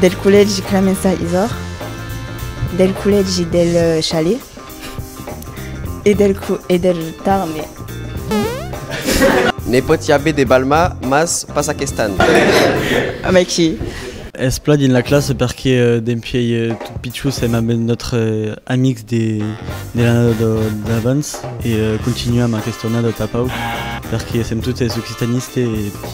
Del collègi Clemença Isòr, del collègi del Chalet e del, e del Tarme. Ne pòt i aver de Balma, mas pas aquest an. A mai que. Es plan dins la classa perque dempuèi tot pichons èm amb nòstre amics de l'annada d'abans e continuam aquesta annada tapau perque sèm totes occitanistes e.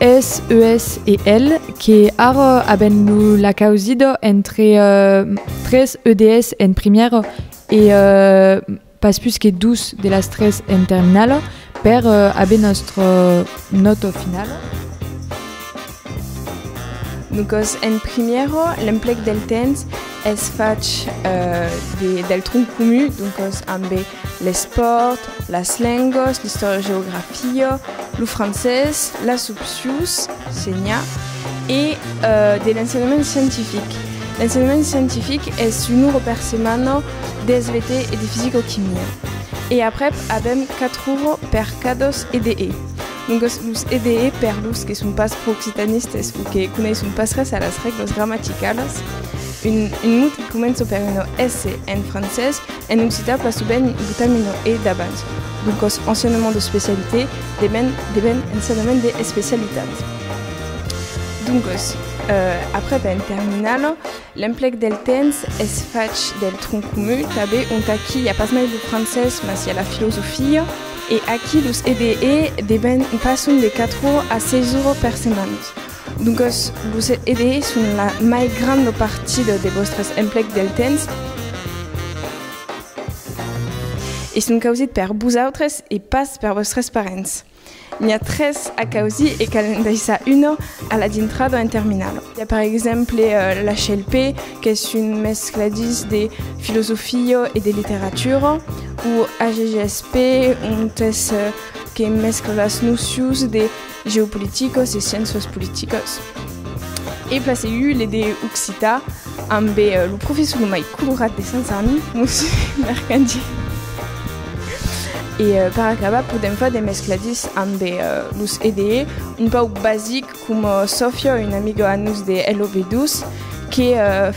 Es eus e el que ara aben lo lacausida entre tres EDS en primièra e pas pus que dus de las tres en terminala per aver nòstra nòta finala. Noscos en primièra l'emplec del temps es fach del tronc comun, doncas ambe l'espòrt, las lengas, l'istòria-geografia, lo francés, las opcions, senha, e de l'ensenhament scientific. L'ensenhament scientific es un ora per setmana d'SVT e de fisica-chimia, e aprèp avèm quatre oras per cadasc d'EE. Dongos los EDE, per los que son pas pro-occitanistes o que coneisson pas res a las règlas gramaticalas, un, un mot qui comença per una S en francés, en occitan pas sovent i botam una E davant. Dongos, ensenhament de specialité deven, deven ensenhament de especialitat. Dongos, eh, après ben terminalo, L'emplec del temps es fach del tronc comu, tanben ont aquí i a pas mai lo francés mas i a la filosofia, e aquí los EBE deben passon de 4 ora a 6 ora per setmanas. Doncas los EBE son la mai granda partida de vòstres emplecs del temps e son causits per vosautres e pas per vòstres parents. N'i a tres a causir e cal en daissar una a la dintrada en terminala. Hi a per exemple la HLP, qu'es un mescladís de filosofia e de literatura, o HGSP, ont es que mescla las nocions de geopoliticas e sciéncias politicas. E placèu le de occitan ambe lo professor lo mai colorat de Sant Sarni, Monsieur Mercadier. E per acabar podèm far de mescladís ambe los EDE, un pauc basic coma Sòfia, una amiga a nos de LOV2, que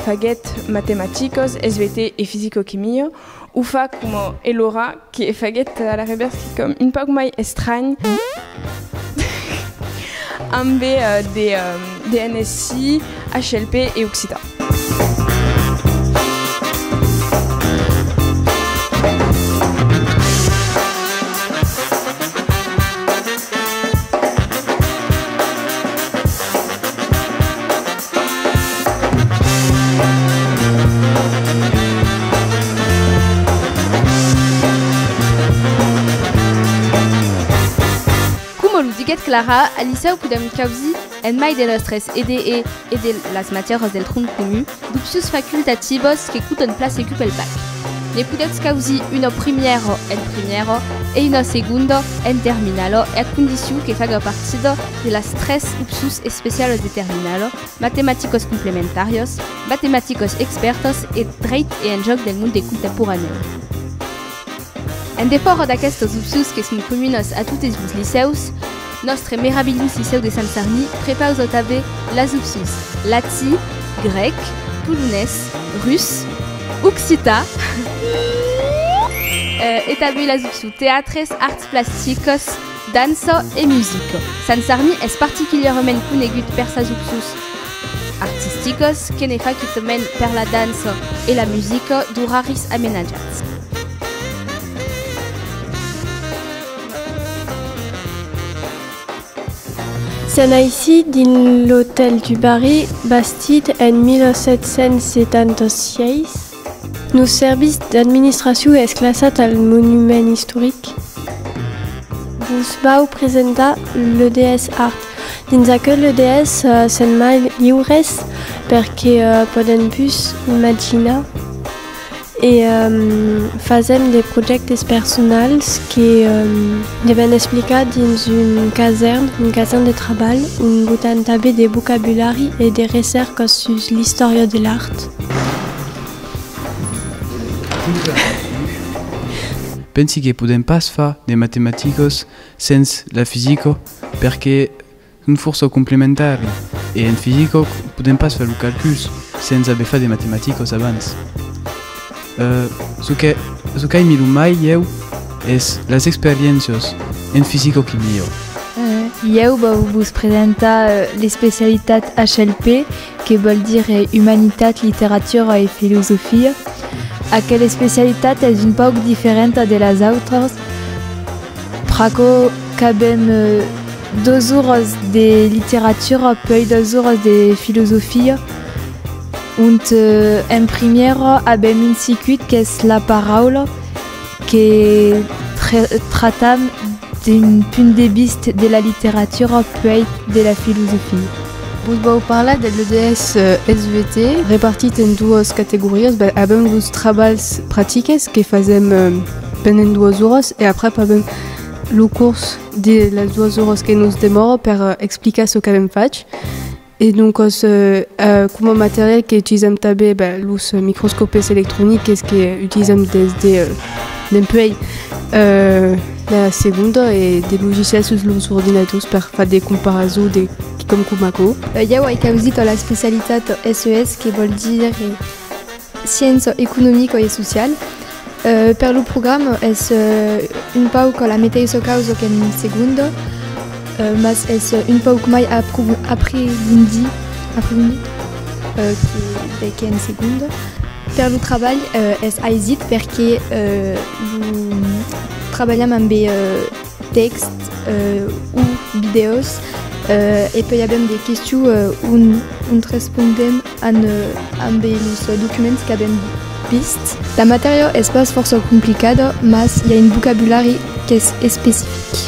faguèt matematicas, SVT e fisicoquimia, O fa coma Elora, que e faguèt a la revèrs quicòm un pauc mai estranh, ambe de DNSI, HLP e occitan. Coma lo diguèt Clara, al licèu podèm causir, en mai de nòstres EDE e de las matièras del tronc comu, d'opcions facultativas que coton plan segur pel bac. Ne podètz causir una primièra en primièra e una segonda en terminala e a condicion que faga partida de las tres upçus especialos de terminalo, matematicos complementarios, matematicos expèrtos e dreit e enjòc del monde contemporanèu. En defòra d'aquestos upçus que son comunos a totes los licèus, nòstre meravilhós licèu de Sant Sarni prepausa tanben las upçus latí, grèc, polonés, rus, occità e tanben las upçus teatres, arts plasticos, Dança e musica. Sant Sarni es particulièrament conegut per sas opços artisticas que ne fa quitament per la dança e la musica d'oraris amenatjats. Se naissi dins l'Hôtel du Barri, bastit en 1776, Lo serviç d'administracion es classat al monument istoric. Vos vau presentar l'EDS Art. Dins aquel EDS sèn mai liures perque podèm pus imaginar e fasèm de projèctes personals que devèn explicar dins un casèrn, un casèrn de trabalh ont botam tanben de vocabulari e de recèrcas sus l'istòria de l'art. Pensi que podèm pas far de matematicas sens la fisica perque son fòrça complementari e en fisica podèm pas far los calculs sens aver fat de matematicas abans. Çò qu'aimi lo mai ieu es las experiéncias en fisica que miro. Ieu vau vos presentar l'especialitat HLP. que vòl dire Umanitat, Literatura e Filosofia. Aquela especialitat es un pauc diferenta de las autras, pr'aquò qu'avèm dos oras de literatura puèi dos oras de filosofia, ont en primièra avèm un circuit qu'es la paraula, que tratam d'un punt de vist de la literatura puèi de la filosofia. Vos vau parlar de l'EDS SVT repartit en duas categorias, ben avèm los trabalhs pratiques que fasèm pendent duas oras e aprèp avèm lo curs de las duas oras que nos demòra per explicar çò qu'avèm fach. E doncas, coma material que utilizam tanben, ben, los microscòpes electroniques que utilizam des de dempuèi la segonda e de logicials sus los ordinadors per far de comparazons de quicòm coma aquò. Ieu ai causit a l'especialitat SES que vòl dire Sciença Economica e Sociala. Per lo programa es un pauc la meteissa causa qu'en segunda, mas es un pauc mai aprigondit qu'en segunda. Per lo trabalh es aisit perque trabalham ambe Tèxt o vidèos e pei avèm de questions ont respondèm amb los documents qu'avèm vist. La matèria es pas fòrça complicada mas i a un vocabulari qu'es especific.